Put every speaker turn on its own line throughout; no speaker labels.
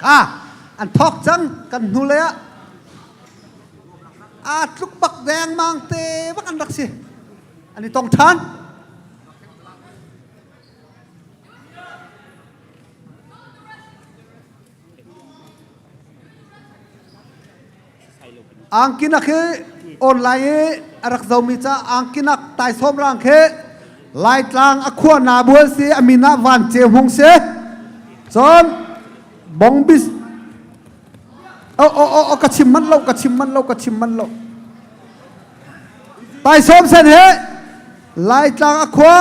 Ah, an thawk cang kan hnu lei ah aa tluk bak dengmang te bak an rak si an i tong ṭhan angkinak hi online i a rak zomi ca angkinak taisawm rang khi laitlang a khua na bual si a min ah van ce hung si cun bongbis o o o ka chim manh lo ka chim manh lo ka chim manh lo taisawm sen hi laitlang a khua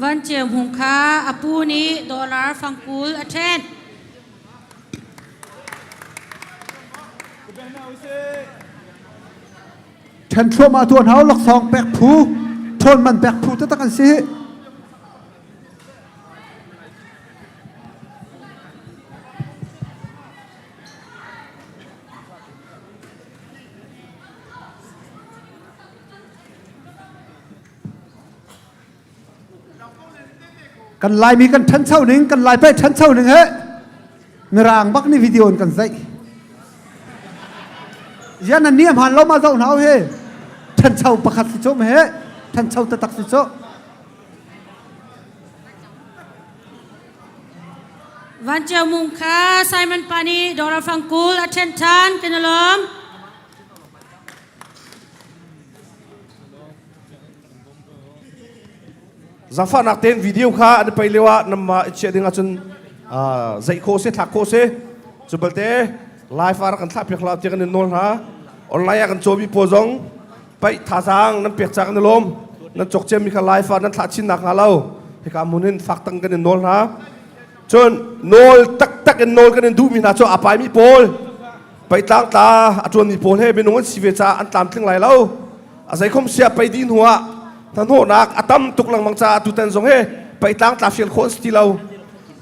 Vanceu Hmung kha a pu nih dollar fangkul a ṭhen. Ṭhen thluahmah tu hna laksawng pek phu, ṭhawn man pek phu taktak an si. kan laimi kan ṭhancho ning kan lai peh ṭhancho ning he mirang bak ni video in kan zaih yan an niam han lo ma zau hnaw he ṭhancho pakhat si chom he ṭhancho tatak si cho Van Cio Mung kha Simon pa nih dawra fangkul a ṭhen ṭhan kan i lawm. Zangfahnak tein video kha an i pei lio ah nanmah i chiah ding ahcun uh, zeih khawh se, thlak khawh se. Cu balte live ah rak kan thlah piak hlah tiah kan in nawl hna. Online ah kan cawmi pawl zong paih thazaang nan pek cak na lawm nan cok ciammi kha laifa nan thlah chin nak hnga lo hika mun in fak tang kan in nawl hna cun nawl taktak in nawl kan in duhmi hna cu a paimi pawl paih tlang tla a tuanmi pawl he minung an si ve caah an tlam tling lai lo a zeikhom sia pei di hnu ah hnahnawhnak a tam tuk lengmang caah tutan zong he paih tlang tla fial khawh an si ti lo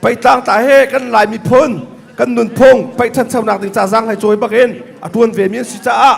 paih tlang tla he kan laimi phun kan nunphung paih ṭhanchonak ding ca zang hai cawi bakin a tuan ve mi an si caah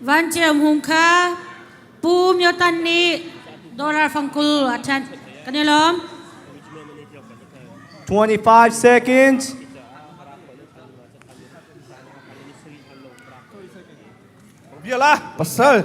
Van Ceum Hung kha Pu Myo Tan nih dollar fangkul a ṭhanh. Kan i lawm. 25 seconds. Biala pasal